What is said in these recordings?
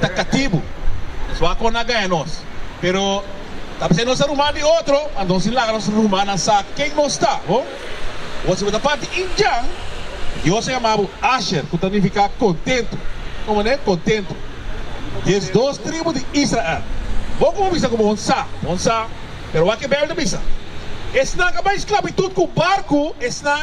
ta katibu. Nos wou a kon a gaña nos, pero ta p'esei nos a ruma di otro, anto nos tin laga nos ruma nan sa ken nos ta. Bo bo si bo ta parti Indian, Dios a yama bo Asher, ku ta nifiká kontentu. Un manera kontentu. Des dos tribu di Israel. Bo kon bisa ku bo un sa, bo un sa, pero wak e Beibel ta bisa, Esnan ka bai sklabitut ku barku, esnan.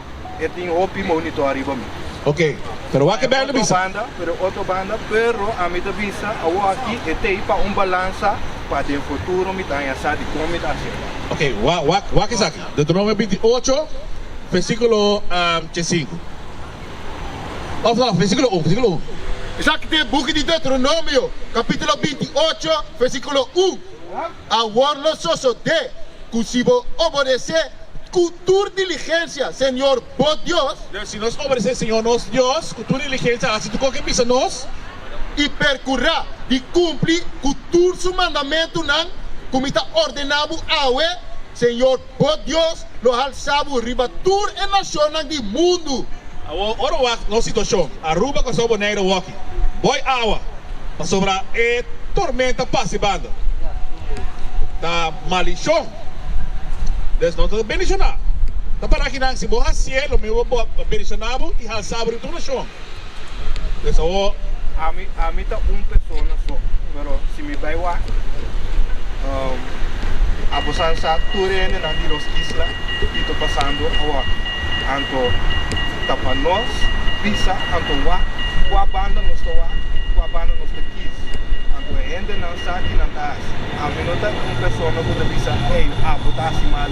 e tin hopi monitor ariba mi. Ok, pero wak e bende bisa. Pero otro banda, pero ami ta bisa awoaki e t'ei pa un balansa pa den futuro mi ta haña sa di kon mi ta hasi esa. Ok, wak, wak esaki, Deuteronomio binti ocho, versikulo ke sinku, of no, versikulo un, versikulo un. Esaki ta e buki di Deuteronomio, kapitulo binti ocho, versikulo un. Awor lo sosodé ku si bo obodesé ku tur diligensia Señor bo Dios. Pero si nos obodesé Señor nos Dios ku tur diligensia hasi tur kon ke bisa nos. I perkurá di kumpli ku tur su mandamentunan ku mi ta ordená bo awe, Señor Bo Dios lo halsa bo riba tur e nacionnan di mundu. Awo, ora wak nos situacion, Aruba cu Sao Boneiro waki boy awa pasobra e tormenta pasi banda. Ta malicion. Des nos ta bendiciona. Ta para akinan si bo hacié lo mismo bo beniciona bo y halsa bo riba tur nacion. Desawo ami, ami ta un persona so, pero si mi bai wak, um, abosan sa tur hendenan di nos isla kito pasando awor. Anto ta pa nos bisa anto wak kua banda nos ta wak, kua banda nos ta kis. Anto e hendenan sa kinan ta hasi. Ami no ta un persona ku ta bisa, ey, abo ta hasi mal.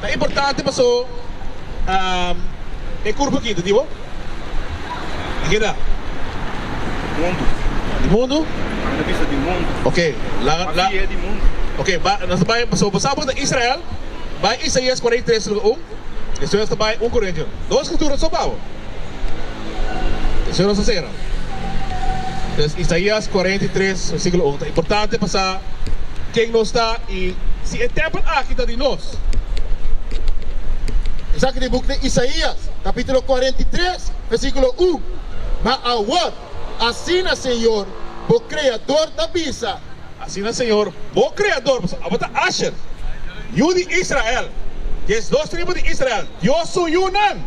Ta importante paso e kurpa kita di bo. Di keda? Di mundu. Di mundu? Nan ta bisa di mundu. Oke, la, la. Mabie e di mundu. Oke, ba, nos ta bai, paso bosnan por ta Israel, bai Isaias kuarenta i tres luka un, despues nos ta bai un Korintios. Dos skritura so, Pabo? Despues nos ta sera. Pues Isaías cuarenta y tres, versículo un ta importante pa sa ken nos ta i si e tèmpel aki ta di nos. Esaki ta e buk di Isaías, capítulo cuarenta y tres, versículo un, Ma awor, asina Señor, bo Creador ta bisa. Asina Señor, bo Creador, pasobra abo ta Asher, yu di Israel, dies dos tribu di Israel, Dios su yunan.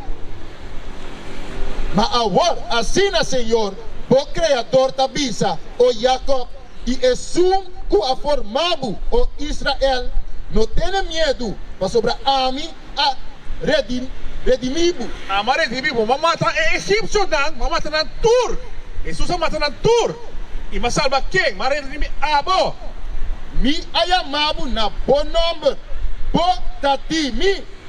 Ma awor, asina señor, bo Kreador ta bisa, O Jakob, i esun ku a forma bo, O Israel, no tene miedu, pasobra ami a redimi bo. Ami a redimi bo. Bo a mata e egipsionan, bo a mata nan tur. Hesus a mata nan tur. I mi a salba ken? Mi a redimi abo. Mi a yama bo na bo nòmber. Bo ta di mi.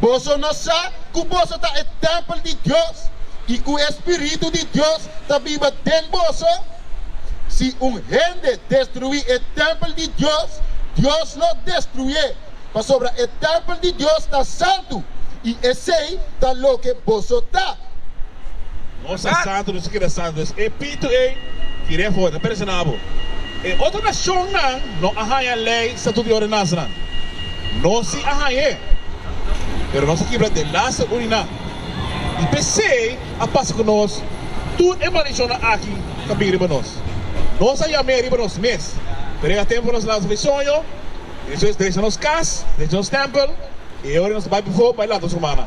Boso no sa ku boso ta e tèmpel di Dios i ku e Spiritu di Dios ta biba den boso? Si un hende destruí e tèmpel di Dios, Dios lo destruié, pasobra e tèmpel di Dios ta santu, i esei ta loke boso ta. Nos ta santu, nos a keda santu den Spiritu ei i den for ta perdoná bo. E otro nashonnan no a haña lei, statuto i ordenansanan. Nos si a haña e, pero nos a kibra den laster urinan. I p'esei a pasa ku nos tur e maldicionnan aki ta bin riba nos. Nos a yam'é riba nos mes, pero e a tempu pa nos lansa e soño, esu es drecha nos kas, drecha nos tèmpel i e ora nos ta bai befo bai lanta nos rumannan.